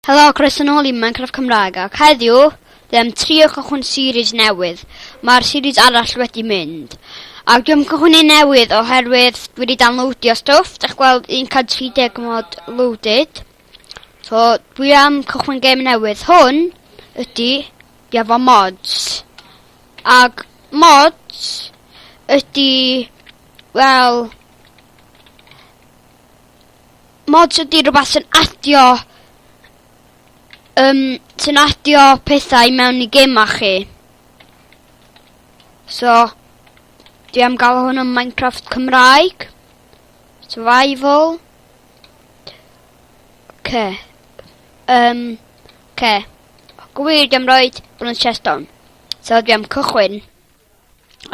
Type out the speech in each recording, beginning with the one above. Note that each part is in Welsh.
Helo, croeso nôl i Minecraft Cymraeg ac heddiw dwi am trio cychwyn series newydd. Mae'r series arall wedi mynd. Ac dwi am cychwyn un newydd oherwydd dwi wedi downloadio stwff, dych gweld 130 mod loaded. So dwi am cychwyn gêm newydd. Hwn ydy dwi efo mods. Ac mods ydy wel Mods ydi rwbath sy'n adio yym sy'n adio pethau i mewn i gema chi. So, dwi am gael hwn yn Minecraft Cymraeg. Survival. Ce. Um, ce. Gwir, dwi am roi bod yn chest on. So, dwi am cychwyn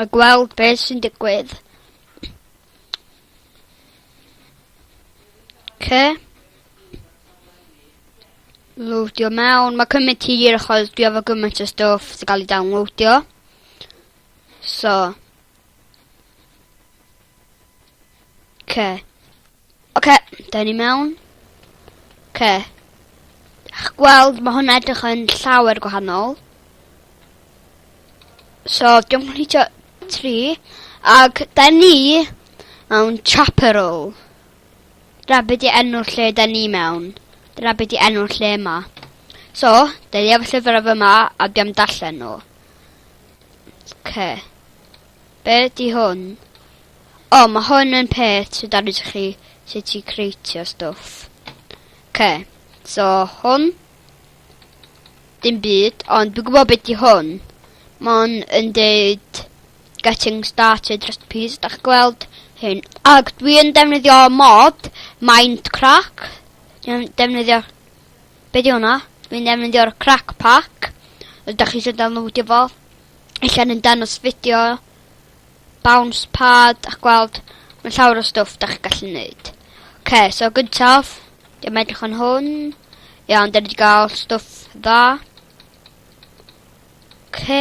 a gweld beth sy'n digwydd. Ce. Loadio mewn. Mae cymryd ti i'r achos dwi efo gymaint o stwff sy'n cael ei downloadio. So. Ce. Oce, da ni mewn. Ce. Ach gweld, mae hwnna edrych yn llawer gwahanol. So, diolch yn hitio tri ag da ni mewn chaperol. Dyna be di enw'r lle da ni mewn. Dyna be di enw'r lle yma. So, da ni efo llyfr efo yma a dwi am darllen nhw. Ce. Be di hwn? O, mae hwn yn peth sydd dan ydych chi sut i creitio stwff. Ce. So, hwn Dim byd, ond dwi'n gwybod beth di hwn. Mae'n yn deud getting started recipes, da chi gweld hyn. Ac dwi yn defnyddio mod, mind crack. Dwi'n defnyddio... Be di hwnna? Dwi'n defnyddio'r crack pack. Ydych chi eisiau downloadio fo? Allan yn danos fideo bounce pad a gweld ma' llawer o stwff 'dach chi gallu neud. Oce so gyntaf dwi am edrych yn hwn. Iawn 'dan ni 'di ga'l stwff dda. Oce.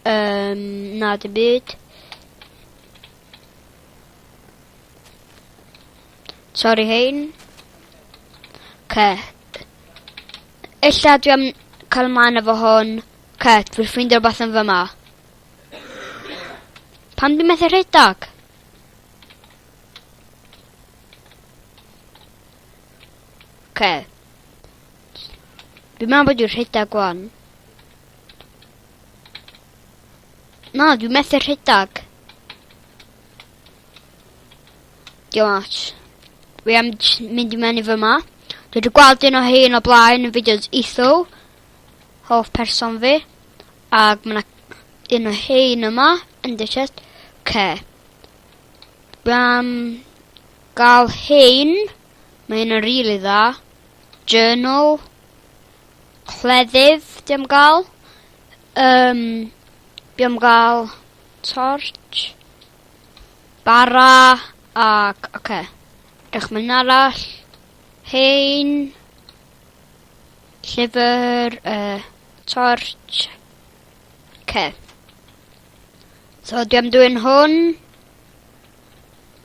Yym na dim byd. Sori hein. Oce. Ella dwi am cael mlaen efo hwn. Oce dwi ffindio rwbath yn fyma. Pan dwi methu rhedeg? Oce. Dwi'n meddwl bod dwi'n rhedeg gwan. Na, dwi'n methu rhedeg. Diolch much. Fi am mynd i mewn i fy ma. Dwi wedi gweld un o hyn o blaen yn fideos eitho. Hoff person fi. Ag ma' 'na un o rhein yma yn dy siest. Oce. Bam. Gal rhein. Mae hyn yn rili dda. Journal. Cleddyf, di am gal. Um, di am gal torch. Bara. Ac, oce. Okay. Ech mae'n arall. Hein. Llyfr. Uh, torch. Okay. So, dwi am dwy'n hwn.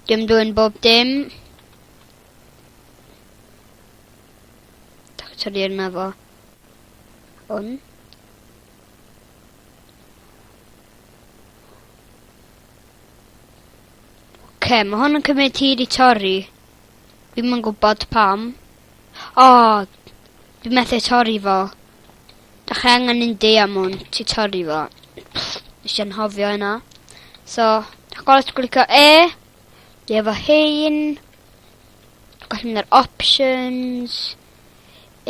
Dwi am dwy'n bob dim. Da chi torri yna fo. Hwn. Okay, mae hwn yn cymryd hir i torri. Fi'n yn gwybod pam. O! Dwi methu torri fo. Dach chi angen un diamwnt i torri fo. Nes i anghofio hynna. So, dach chi'n gweld glicio E. Dwi efo hyn. Dwi'n gallu mynd ar options.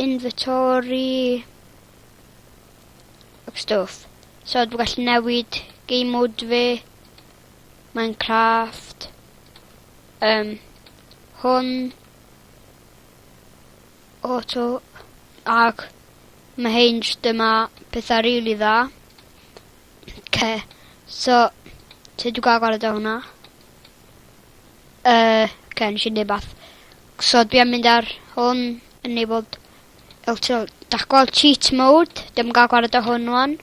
Inventory. Ac stwff. So, dwi'n gallu newid game mode fi. Minecraft. Um, hwn. Auto ac mae Hinge dyma pethau rili dda. Oce so sut dwi ga'l gwared o hwnna? Yy oce nesh i neud bath. So dwi am mynd ar hwn enabled auto 'dach gweld cheat mode dim yn ga'l gwared o hwn ŵan.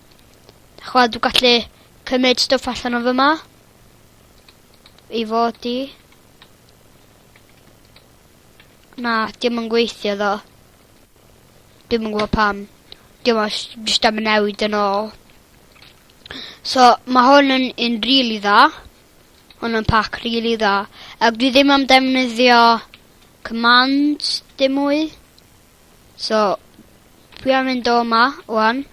Ch'wel' dwi gallu cymyd stwff allan o fyma i fod i. Na, dim yn gweithio ddo. Dim yn gwbo pam. Dim os jyst am y newid yn ôl. So, mae hwn yn un rili dda. Hwn yn pac rili dda. Ac dwi ddim am defnyddio commands dim mwy. So, dwi am mynd o yma, wan.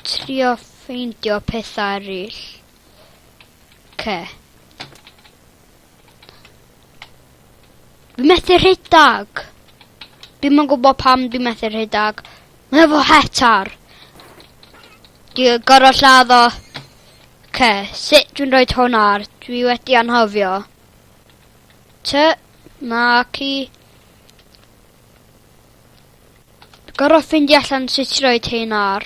Trio ffeindio pethau eraill. Oce. Fi methu rhedag. Dim yn gwybod pam dwi methu rhedag. Mae efo hetar. Dwi gorau lladd o. Oce, sut dwi'n rhoi hwn ar? Dwi wedi anhofio. Ty, na, ci. Gorau ffindio allan sut i rhoi hyn ar.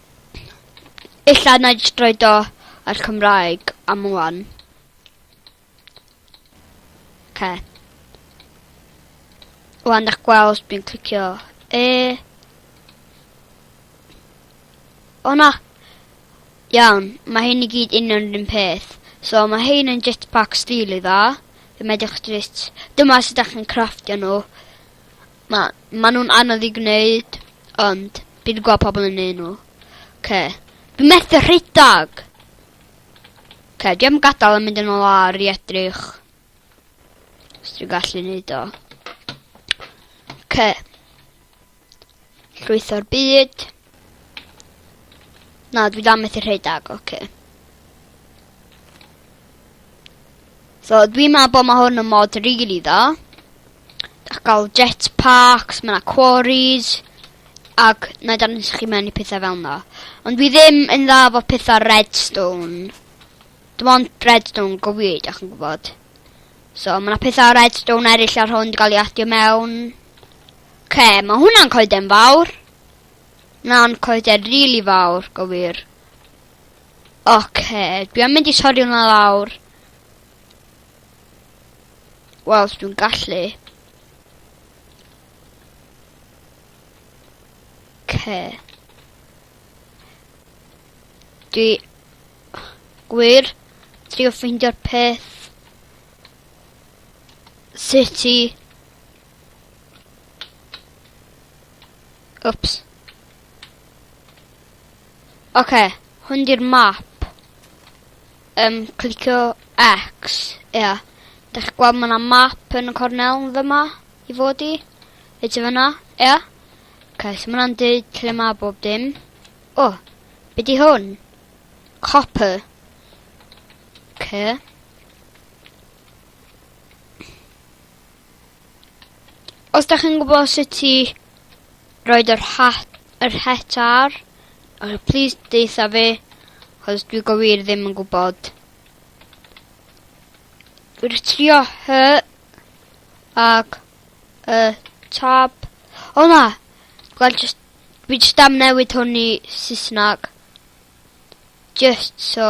Ella na jyst roed o ar Cymraeg am ŵan. Oce. Wan da'ch gweld dwi'n clicio E. O na! Iawn, mae hyn i gyd union yr un peth. So mae hyn yn jetpack stil i dda. Fe medrwch jyst... Dyma sut ydych chi'n crafftio nhw. Na, ma' nhw'n anodd i gwneud, ond fi 'di gweld pobl yn neud nhw. Oce. Fi methu rhedag! Oce, dwi am gadal a mynd yn ôl ar i edrych. Os dwi'n gallu neud o. Oce. Llwytho'r byd. Na, dwi dal methu rhedeg, oce. Okay. So, dwi'n meddwl bod mae hwn yn mod rili really dda. Ac gael jetpacks, mae yna quarries, ac na i dan nes chi mewn i pethau fel yna. Ond dwi ddim yn dda fo pethau redstone. Dim ond redstone go wir, da chi'n gwybod. So, mae yna pethau redstone eraill ar hwn, di gael ei adio mewn. Ce, okay, mae hwnna'n coed yn fawr. Na'n coeden rili fawr, go wir. Oce, dwi am mynd i torri hwnna lawr. Wel, dwi'n gallu. Oce. Dwi... Gwir, trio ffeindio'r peth. Sut i... Wps. Oce, okay, hwn di'r map. Ym, clicio X, ia. Yeah. Dych chi'n gweld mae'na map yn y cornel yn fyma, i fod i. Fe ti fyna, ia. Yeah. Oce, okay, so mae'n dweud lle mae bob dim. O, oh, be di hwn? Copper. Oce. Okay. Os da chi'n gwybod sut i roed yr hat, yr het ar, uh, please deitha fi, chos dwi go wir ddim yn gwybod. Dwi'n trio hy ac y tab. O na! Dwi'n just, dwi just am newid hwn i Saesnag. Just so.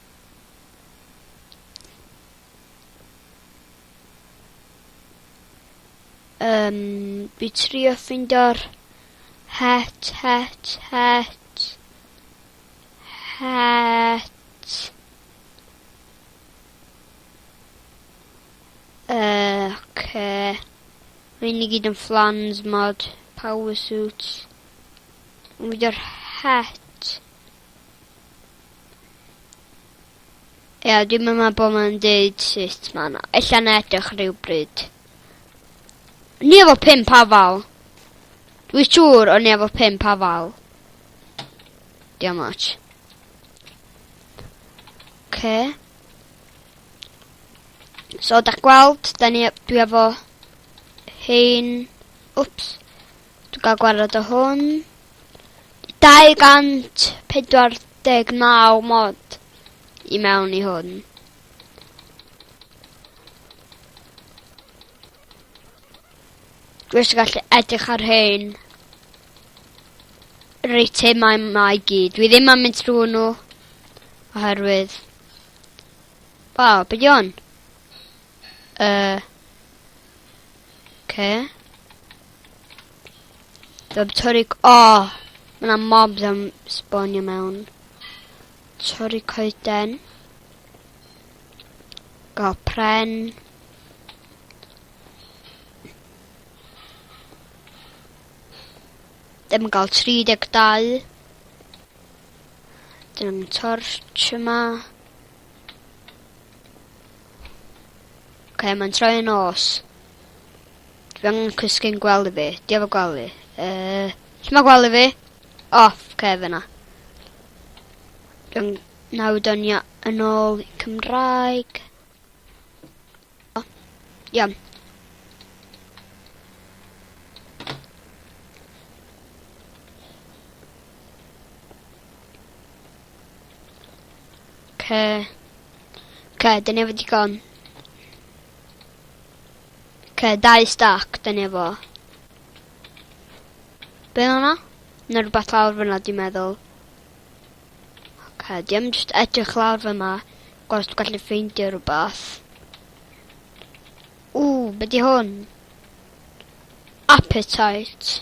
Um, fi trio ffindo'r het, het, het, het. Uh, okay. Rwy'n i gyd yn flans mod, power suits. Ond fi dy'r het. Ia, dim yma bod mae'n deud sut mae yna. Ella na edrych rhywbryd. Ni efo pimp afal. Dwi siŵr o'n ni efo pimp afal. Diolch much. Oce. So, da gweld, da ni, dwi efo hein... Wps. Dwi ga'l gwarad o hwn. 249 mod i mewn i hwn. Dwi eisiau gallu edrych ar hyn. Yr eitemau yma i gyd. Dwi ddim yn mynd trwy nhw. Oherwydd... Waw, beth yw hwn? Uh, okay. Dwi'n torri... O! Oh, Mae yna mobs am sbonio mewn. Torri coeden. Gael pren. Ddim yn gael 32. Dyna'n torch yma. Ok, mae'n troi yn os. Dwi angen cysgu'n gwely fi. Di efo gwely. Uh, lle mae gwely fi? Off, oh, okay, fyna. Dwi'n nawr dyn yn ôl Cymraeg. Oh, iawn. Okay. Oce, dyna efo digon. Oce, dau stac, dyna efo. Be o'na? Na rhywbeth lawr fyna, dwi'n meddwl. Oce, di am just edrych lawr fyma, gwaith dwi'n gallu ffeindio rhywbeth. O, be di hwn? Appetite.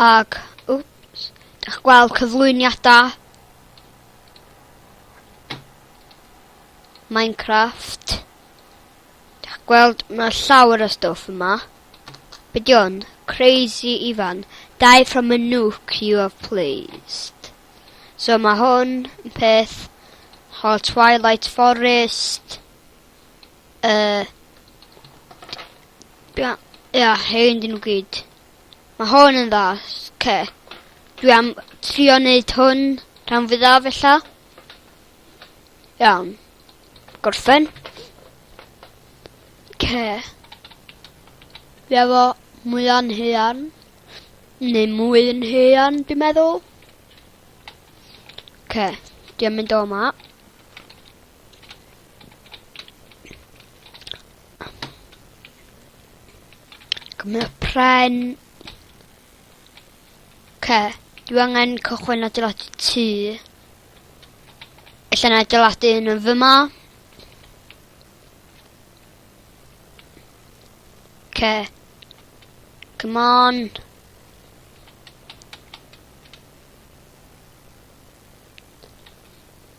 Ac, wps, dych gweld cyflwyniadau Minecraft. Dych gweld, mae llawer o stwff yma. Be di hwn? Crazy Ifan. Die from a nuke you have placed. So mae hwn yn peth... Hol Twilight Forest. Yy. Dwi am... Ia, hen dyn nhw gyd. Mae hon yn dda. Ce. Dwi am trio neud hwn rhan fwyaf ella. Iawn. Gorffen. Ce. Fi efo mwy o'n hean. Neu mwy yn hean, dwi'n meddwl. Ce. Dwi'n mynd o yma. Gwneud pren. Ce, dwi angen cychwyn adeiladu tŷ. Allan adeiladu un yn fyma. Ce. Come on.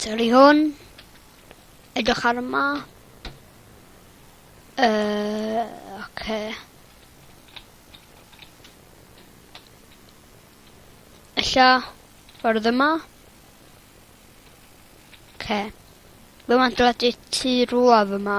Torri hwn. Edrych ar yma. Uh, okay. Ella, ffordd yma. Okay. Fe mae'n dod i tu rwla fyma.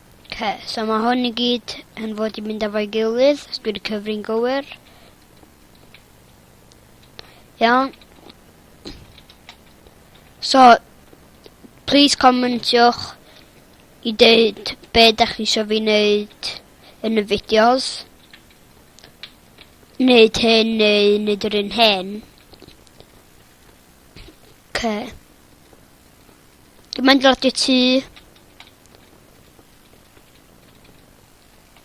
Oce, so mae hwn i gyd yn fod i mynd efo'i gilydd, os dwi'n cyfri'n gywir. Iawn. So, please comentiwch i dweud be da chi eisiau fi wneud yn y fideos. Wneud hyn neu wneud yr un hyn. Okay. Dwi'n mynd dros y tŷ.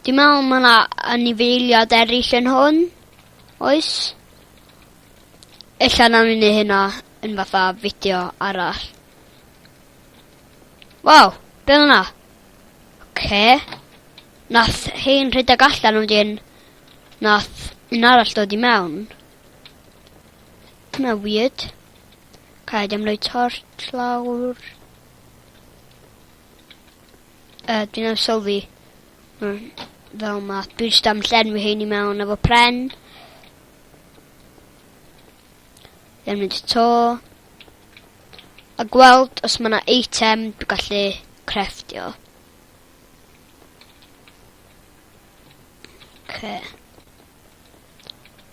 Dwi'n meddwl mae yna anifeiliad eraill yn hwn. Oes? Ella na ni'n ei hynna yn fatha fideo arall. Waw, be oedd yna? Ce? Nath hein rhedeg allan wedyn nath un arall dod i mewn. Dyna weird. Cael ddim rhoi torch lawr. Uh, dwi'n am sylwi. Mm, fel ma. Dwi'n just am llenwi hyn i mewn efo pren. Ddim mynd to. A gweld os mae yna eitem dwi'n gallu crefftio. Okay.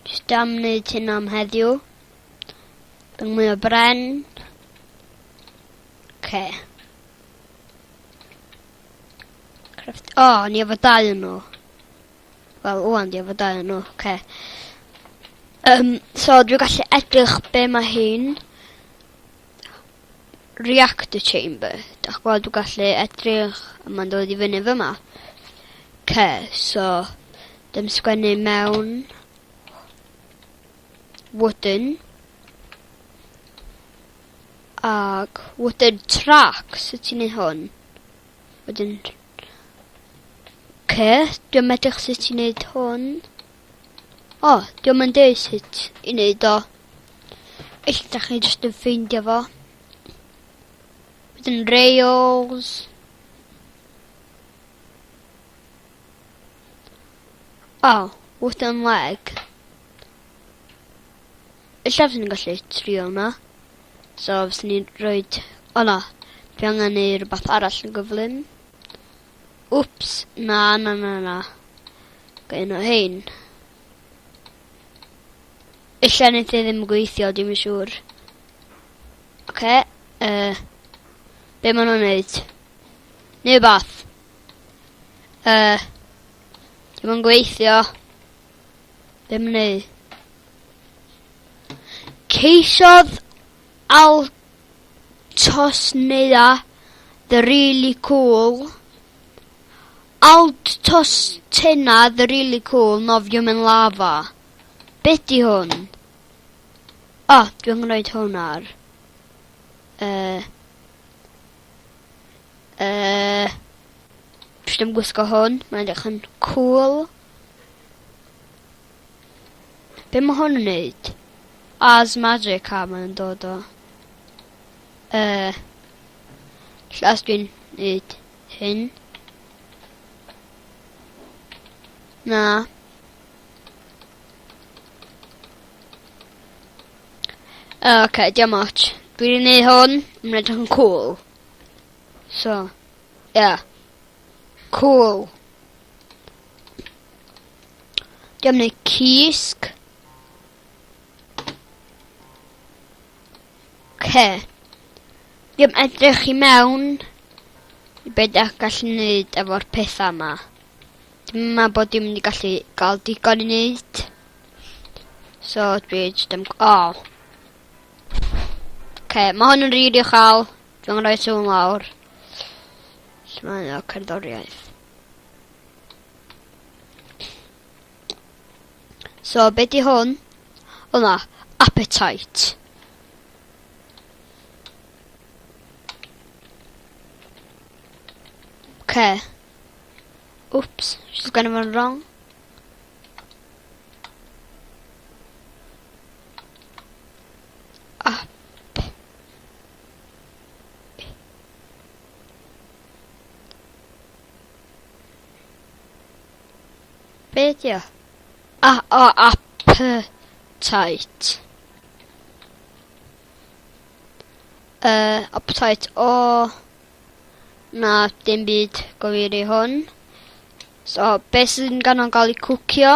Just am wneud hyn am heddiw. Yn mwy o bren. Ce. Craft... O, oh, ni efo dau yn nhw. Wel, wwan, ni efo dau yn nhw. Ce. Um, so, dwi'n gallu edrych be mae hyn. reactor chamber. Dach gweld dwi gallu edrych a ma'n dod i fyny fyma. Ce, so dim sgwennu mewn wooden ag wooden track sut ti'n ei hwn? Wedyn ce, dwi'n medrych sut ti'n neud hwn. O, diolch yn dweud sut i wneud o. Eich da chi jyst yn ffeindio fo. Wedyn Rails. O, wrth yn leg. Ella fyswn ni'n gallu trio hwnna. So, fyswn ni'n rhoi... O na, fi angen neu rhywbeth arall yn gyflym. Wps, na na na na. Gai un o hein. Ella nid e ddim yn gweithio, dim yn siŵr. Oce, okay, uh, be maen nhw'n neud? Neu bath. Uh, dim yn gweithio. Be maen nhw'n neud? Ceisiodd Altosnea the really cool Altosstena the really cool nofio mewn lafa. Be di hwn? O, oh, dwi'n gwneud hwn ar... Uh, uh, dwi'n gwisgo hwn, mae'n edrych yn cool. Be mae hwn yn neud? As magic car mae'n dod o. Uh, Llas dwi'n neud hyn. Na. Uh, ok, diolch much. Dwi'n neud hwn, mae'n edrych yn cool. So, yeah. Cool. Diolch yn cysg. Ce. Diolch edrych i mewn i beth ydych gallu gwneud efo'r pethau yma. Dwi'n meddwl bod dim wedi gallu gael digon i wneud. So dwi jyst yn... O! Oh. Okay, mae hwn yn rili uchel. Dwi'n gwneud sŵn lawr. Lle mae yna cerddoriaeth? So, be di hwn? O na, appetite. Ce. Oops, she's gonna run wrong. Be di o? A, a, appetite. Uh, appetite o... Na, dim byd gofir i hwn. So, beth sy'n ganon gael ei cwcio?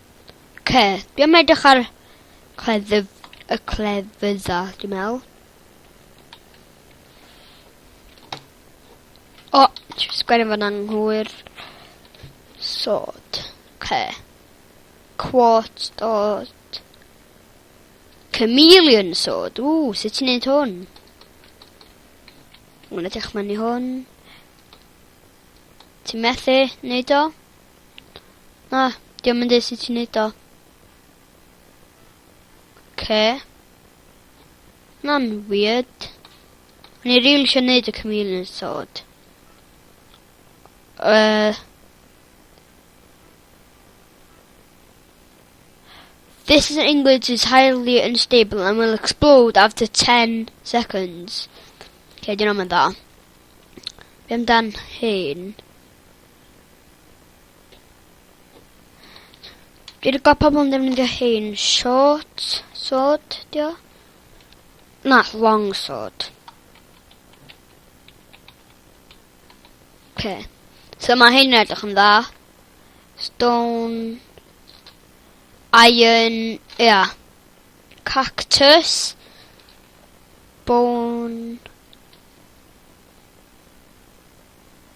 Oce, dwi am edrych ar cleddyf, y clefydda, dwi'n meddwl. O, ti'n sgwennu fan anghywir. Sod. Oce. Quart dod. Chameleon sod. Ww, sut ti'n neud hwn? Mwyn edrych mewn i hwn. Ti'n methu neud o? Na, diom yn dweud sut ti'n neud o. Ce. Na'n weird. O'n i rili eisiau neud y chameleon sword. Uh, This is an English is highly unstable and will explode after 10 seconds. Okay, dyn nhw'n mynd dda. Be amdan hyn? Dwi'n gwybod pobl yn defnyddio hein. Short sword, dio? Na, long sword. Okay. So mae hein yn edrych yn dda. Stone... Iron... Ia. Yeah. Cactus. Bone...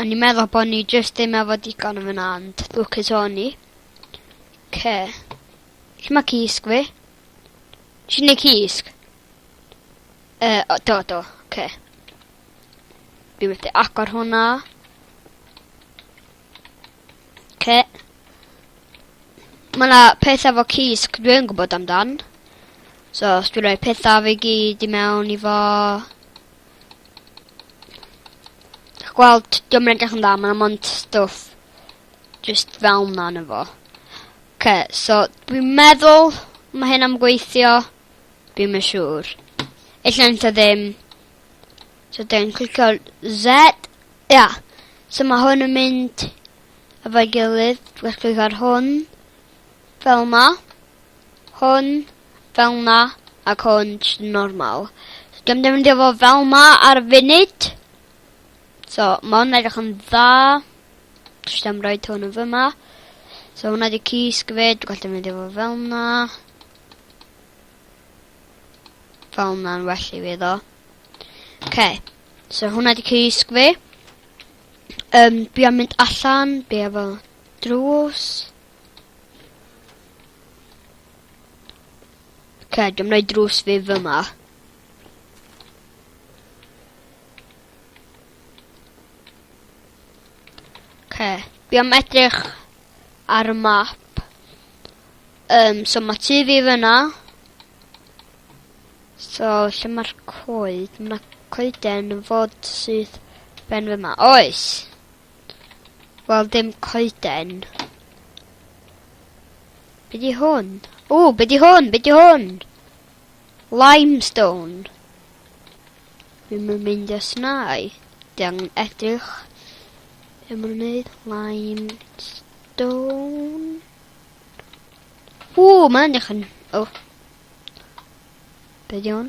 O'n i'n meddwl bo' ni jyst ddim efo digon yn fyna ond lwcus o'n i. 'Ce. Lle ma' cysg fi? Nesh i neud cysg? Yy o do do, 'ce. Dwi methu agor hwnna. 'Ce. Ma' 'na peth efo cysg dwi yn gwbod amdan. So os dwi roi petha fi gyd i mewn i fo, Dych gweld, diolch yn edrych yn dda, mae'n amond stwff just fel na yn efo. Ce, so dwi'n meddwl mae hyn am gweithio, dwi'n yn siŵr. Ella yn ta ddim. So dwi'n clicio Z. Ia, yeah. so mae hwn yn mynd efo'i gilydd, dwi'n clicio ar hwn, fel ma. Hwn, fel 'na, ac hwn jyst normal. Dwi'm defnyddio fo fel 'ma ar y funud. So, ma' hwn edrych yn dda. Jyst am roid hwn yn fyma. So hwnna di cysg fe, dwi'n gallu mynd efo fel na. Fel na'n well i fi ddo. Okay. So hwnna di cysg fe. Um, bi am mynd allan, bi efo drws. Okay, dwi'n mynd drws fi fyma. Okay, fi am edrych ar y map. Um, so mae tu fi fyna. So, lle mae'r coed? Mae coeden yn fod sydd ben fy ma. Oes! Wel, dim coeden. Be di hwn? O, be di hwn? Be di hwn? Limestone. Ddim yn mynd ys nai. Di angen edrych. Ddim yn mynd limestone. O, mae'n edrych yn... O. Be di hwn?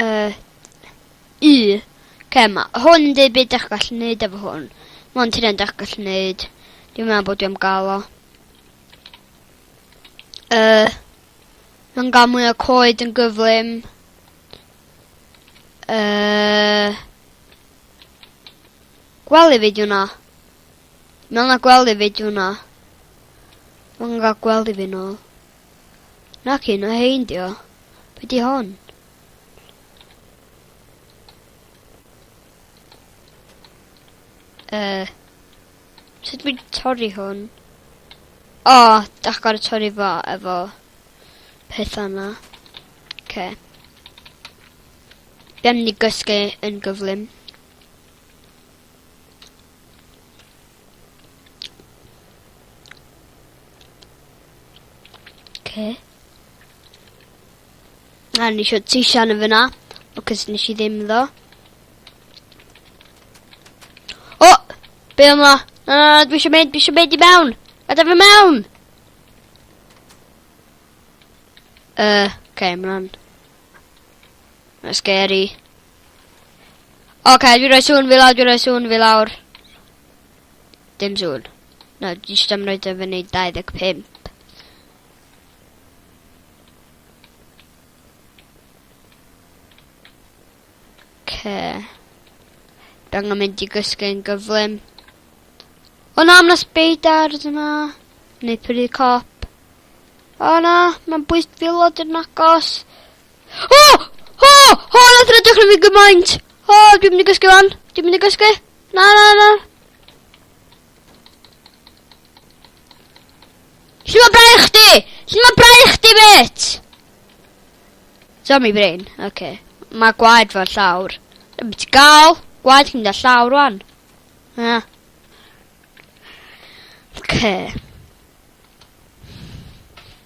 Uh, u. Okay, ma hwn yn dweud beth ydych gallu gwneud efo hwn. Mae hwn ti'n ydych gallu gwneud. Dwi'n meddwl bod dwi'n gael o. Uh, Mae'n gael mwy o coed yn gyflym. Uh, gwely fi diwna. Mae'n na gwely fi diwna. Mae'n gael gwely fi nôl. Nac un o hein dio. Be di hon? Uh, sut dwi'n torri hwn? O, oh, dach gorau torri fo efo peth yna. Okay. Bem ni gysgu yn gyflym. Okay. A ni eisiau ti sian yn fyna, because nes i ddim ddo. O! Be yma? Na, na, na, dwi eisiau mynd, dwi eisiau mynd i mewn! Gada fi mewn! Uh, okay, mae'n... Mae'n scary. Oce, okay, dwi roi sŵn fi lawr, dwi roi sŵn fi lawr. Dim sŵn. Na, no, dwi eisiau am roi dy fyny 25. Oce. Dang yn mynd i gysgu yn gyflym. O na, mae speidars yma. Neu prynu cop. O na, mae'n bwys filod yn agos. O! O! O, na dyna dechrau fi gymaint! O, dwi'n mynd i gysgu fan. Dwi'n mynd i gysgu. Na, na, na. Lle mae brau chdi? Lle mae brau chdi, bit? Zombie brain. Oce. Okay. Mae gwaed fel llawr. Dwi'n mynd i gael. Gwaed chi'n da llawr, rwan. Na. Oce. Okay.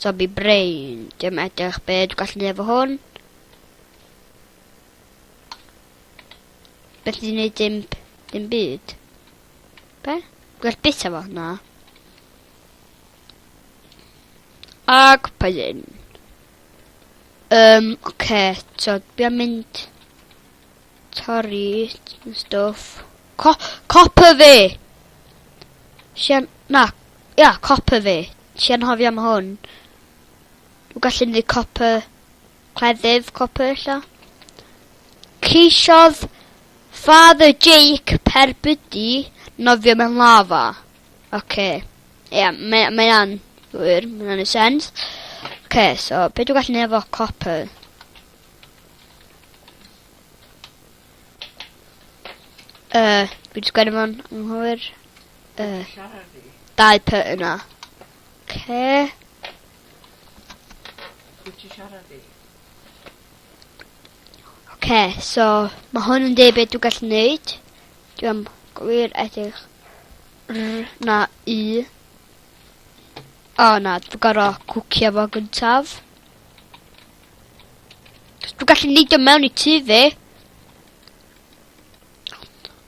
Zombie brain. Dim edrych be' dwi gallu neud efo hwn. Beth dwi'n neud dim, dim byd. Be? Gwell bit efo? Na. Ac paidyn. Um, oce, okay, so dwi am mynd torri stwff. Co copper fi! Sian, na, ia, copper fi. Ti anghofio am hwn. Dw gallu neud copr. Cleddyf copr ella. Ceisiodd Father Jake Perbudi nofio mewn lava. Oce. Okay. Ie, yeah, mae, mae an wir, mae'n annu sens. Oce, okay, so, beth dwi'n gallu neud efo copper? Uh, dwi'n sgwennu fo'n anghywir. y dau py yna. Ce. Oce, so mae hwn yn debyg dwi'n gallu neud. Dwi am gwir edrych r na u. O na, dwi'n gorau cwcio fo gyntaf. Dwi'n gallu neud o mewn i tu fi.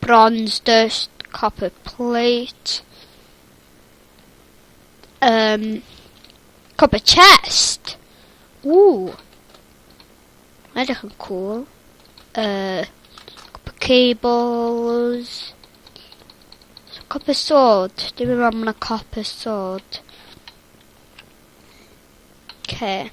Bronze dust, copper plate. Um, copper chest. Ww. Mae'n edrych yn cool. Uh, copper cables. So, copper sword. Dwi'n meddwl bod yna copper sword. Okay.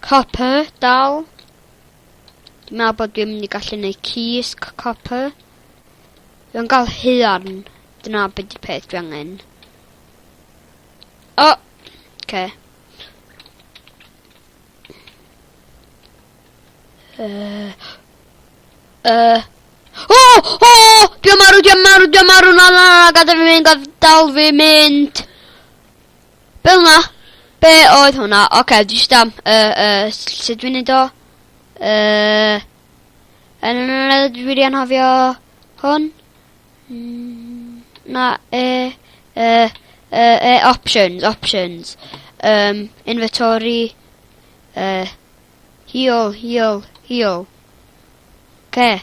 Copper, dal. Dwi'n meddwl bod dwi'n mynd i gallu neud keys copper. Dwi'n gael huarn. Dyna beth di peth dwi angen. O! Oh, okay. Uh, uh, oh! Oh! Dwi'n marw, dwi'n marw, dwi'n marw, na na, gada fi mynd, gada dal fi mynd. Fel na! Be oedd hwnna? Oce, dwi jyst am... Yy, yy, sut dwi'n neud o? Yy... Yn yn yn yn dwi wedi anhofio hwn. Mm, na, e, e, e, e, options, options. Um, inventory, uh, heal, heal, heal. Okay.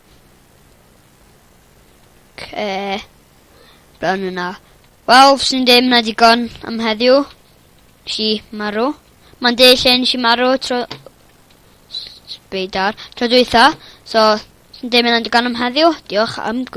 Okay. Brown yna. Wel, sy'n dim na digon am heddiw. Si marw. Mae'n dweud lle nes i marw tro... Beidar. Tro dwytha. So, sy'n dim yna digon am heddiw. Diolch am gwybod.